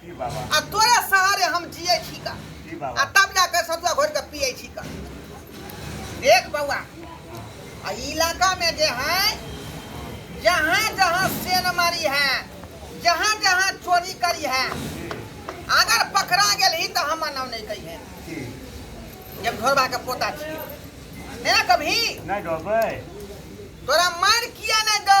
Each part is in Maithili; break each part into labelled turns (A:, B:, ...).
A: की बाबा आ
B: तोरे सहारे
A: हम जिए छी का की आ बाबा तब जाके सतुआ
B: घोर के
A: पिए छी का देख बउआ आ ई इलाका में जे है जहाँ जहाँ सेन मारी है जहाँ जहाँ चोरी करी है अगर पकड़ा गेली तो हम नाम नहीं कही है की
B: जब
A: घोरबा के पोता छी नहीं ना कभी नहीं डरबै
B: तोरा
A: मार किया नहीं दो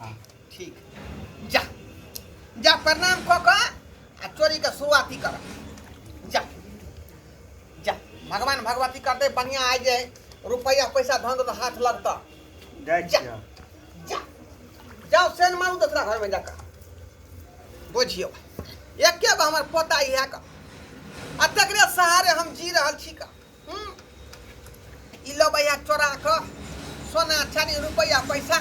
A: हाँ, ठीक जा जा प्रणाम कऽ कऽ आ चोरीके शुरुआती कर जा जा भगवान भगवती करते बढ़िया आइ जे रुपैआ पैसा धन तो हाथ लगता जाइ जा छियै जा जाओ सेन मारू दोसरा घरमे जाकऽ बुझियौ एके गो हमर पोता इएह कऽ आ तकरे सहारे हम जी रहल छी कऽ ई लो भैया चोरा कऽ सोना चानी रुपैआ पैसा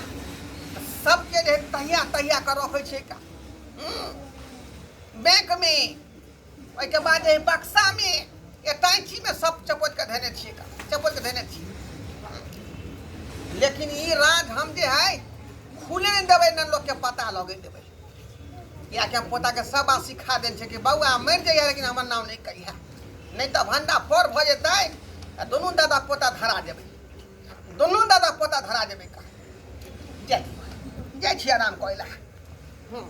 A: सबके जे तहिया तहिया कऽ रखै छै का हम्म, बैंक में ओहिके बाद जे बक्सा में एटाइची में सब चपोत के धने छियै का चपोत के धने छियै लेकिन ई राज हम जे है खुले नहीं देबै न लोग के पता लगे देबै या के पोता के सब बात सिखा देल छै कि बौआ मर जाइए लेकिन हमर नाम नहीं कहिया नहीं तो भंडा फोड़ भ जेतै आ दुनू दादा पोता धरा जेबै दुनू दादा पोता धरा जेबै का जाय जाय छी आराम करै लए हूँ।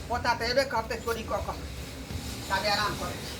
A: पोता तऽ एबे करतै चोरी कऽ कऽ ताबे आराम करै
C: छी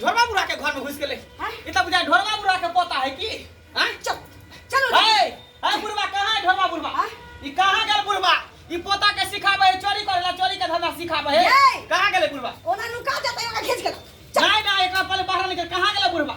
A: ढोरबा बुढ़ा के घर में घुस गेले ई त बुझा ढोरबा बुढ़ा के पोता है की हैं चल चल ए ए बुढ़वा कहां है ढोरबा बुढ़वा ई कहां गेल बुढ़वा ई पोता के सिखाबे है चोरी करेला चोरी के धंधा सिखाबे है ए! कहां गेले बुढ़वा ओना नुका जाता है ओना खींच के ला। नहीं नहीं एकरा पहले बाहर निकल कहां गेले बुढ़वा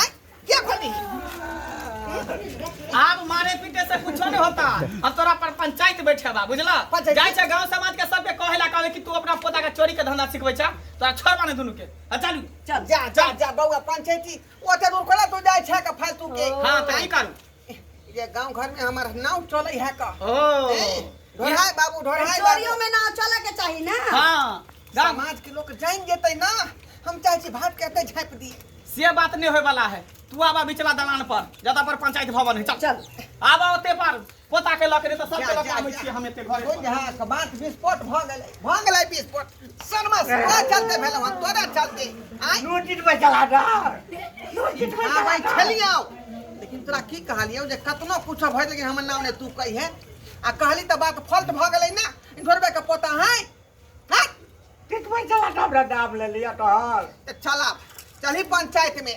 A: आय क्या
C: खोली आब मारे पीटे से कुछो नहीं होता अब तोरा पर पंचायत बैठे बा बुझला पंचायत? जाय छै गांव समाज के सबके कहे ला कहबे कि तू अपना पोता के चोरी के धंधा सिखबै छा तोरा छोड़ माने दुनू के आ चलू चल जा जा जा
A: बौआ पंचायती ओते दूर कोना तू जाय छै के फालतू के हां त की करू
C: ये गांव घर में
A: हमार नाव चले है का ओ
C: ढोढ़ाई
A: बाबू ढोढ़ाई बाबू चोरियों में ना चले
D: के चाहिए ना हाँ गाँव
C: समाज के लोग
A: जान जेते ना हम चाहे छी भात कहते झाप दी से बात नहीं होए
C: वाला है तू आबा बिचला दलान पर जदा पर पंचायत भवन है चल चल आबा ओते पर पोता के लकड़े तो सबके जा, जा, लकड़ा में जा। छिए हम एते घरे हो पर। जा बात विस्फोट
A: भ गेलै भ गेलै विस्फोट शर्मा तोरा चलते भेल हन तोरा चलते आय नोटिस में चला जा
B: नोटिस में चला
A: आबै जा छलियौ लेकिन तोरा की कहलियौ जे कतनो कुछो भरि लेकिन हमर नाम ने तू कहिहे आ कहली तऽ बात फॉल्ट भऽ गेलै ना इन्होरबे के पोता है हट कितने
B: चला था हमरा नाम ले लिया तो हर तऽ चला
A: चलही पंचायत में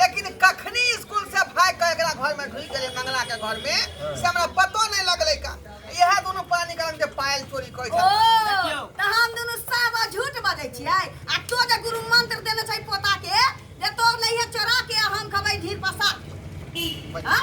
A: लेकिन कखनी स्कूल से भाग के एकरा घर में ढुक गेले मंगला के घर में से हमरा पतो नहीं लगले का यह दोनों पानी का के पायल चोरी कइल ओ देखियौ।
D: त हम
A: दुनु
D: सब झूठ बजै छियै आ तो जे गुरु मंत्र देने छै पोता के जे तोर लइहे चोरा के आ हम खबै ढीर पसा हां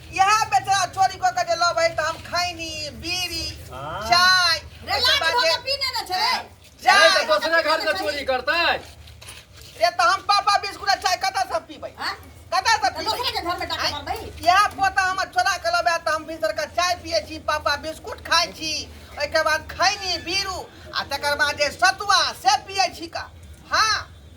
A: इहा बेचारा चोरी क के जे लऽ भाई त हम खैनी बीड़ी हाँ। चाय रे एकर लाट बाद
D: भोग जे- के पीने न छे
E: जा अरे तो दूसरे घर से चोरी करता है रे
A: त हम पापा बिस्कुट आ चाय कतऽ से पीबै हां कतऽ से तो दूसरे पीबै के घर में डाका
D: मार
A: भाई
D: यहाँ पोता हमर
A: चोरा के लबे त हम भीतर के चाय पिए छी पापा बिस्कुट खाइ छी ओहिके बाद खैनी बीरू आ तकर बाद जे सतुआ से पिए छी का हाँ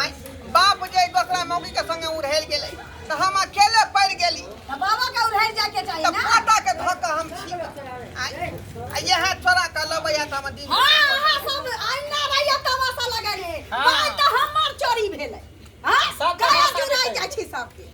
A: आय बाप जे दोसरा मौगी के संगे उड़हेल गेलै तऽ हम अकेले पड़ गेली तऽ बाबा के उड़हेल
D: जाय के चाही ना पोता के धऽ कऽ हम
A: छी आय आ इएह छोरा के लबै आ तऽ हम दिन हां अहाँ सब
D: अन्ना भैया तमाशा लगेले बात तऽ
C: हमर
D: चोरी भेलै हां सब तमाशा देखै
C: छी
D: सबके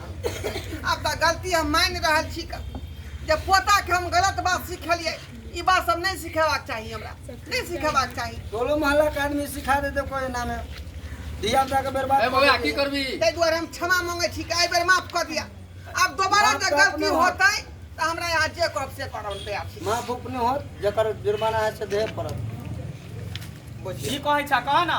A: आब तऽ गलती हम मानि रहल छी क- जे पोताके हम गलत बात सिखेलियै ई बात सब नहि सिखेबाक चाही हमरा नहि सिखेबाक चाही टोलो मोहल्ला के आदमी
F: सिखा देते कोई नामे धिया पुता के बर्बाद ए कर बौआ की देते। करबी
E: ताहि दुआरे हम क्षमा
A: मांगै छी कि एहि बेर माफ कऽ दिअ आब दोबारा माफ जे तऽ गलती अपने होत। होतै
F: तऽ हमरा
A: यहाँ जे कहब से करब हम तैयार छी माफ अपने होत
F: जकर जुर्माना है से देह पड़त
C: की कहै छा कह ना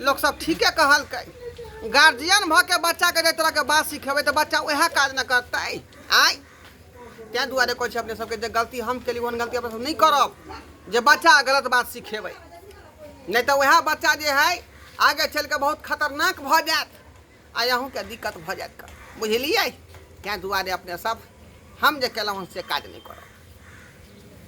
A: लोक सब ठीके कहलकै गार्जियन भऽ के बच्चा के तरह के बात सिखेबै तऽ बच्चा वएह काज ने करतै आय ताहि दुआरे कहै छै अपने सबके जे गलती हम केली ओहन गलती अपने सब नहि करब जे बच्चा गलत बात सिखेबै नहि तऽ वएह बच्चा जे है आगे चलि कऽ बहुत खतरनाक भऽ जायत आ अहूँके दिक्कत भऽ जायत कर बुझलियै ताहि दुआरे अपने सब हम जे केलहुँ से काज नहि करब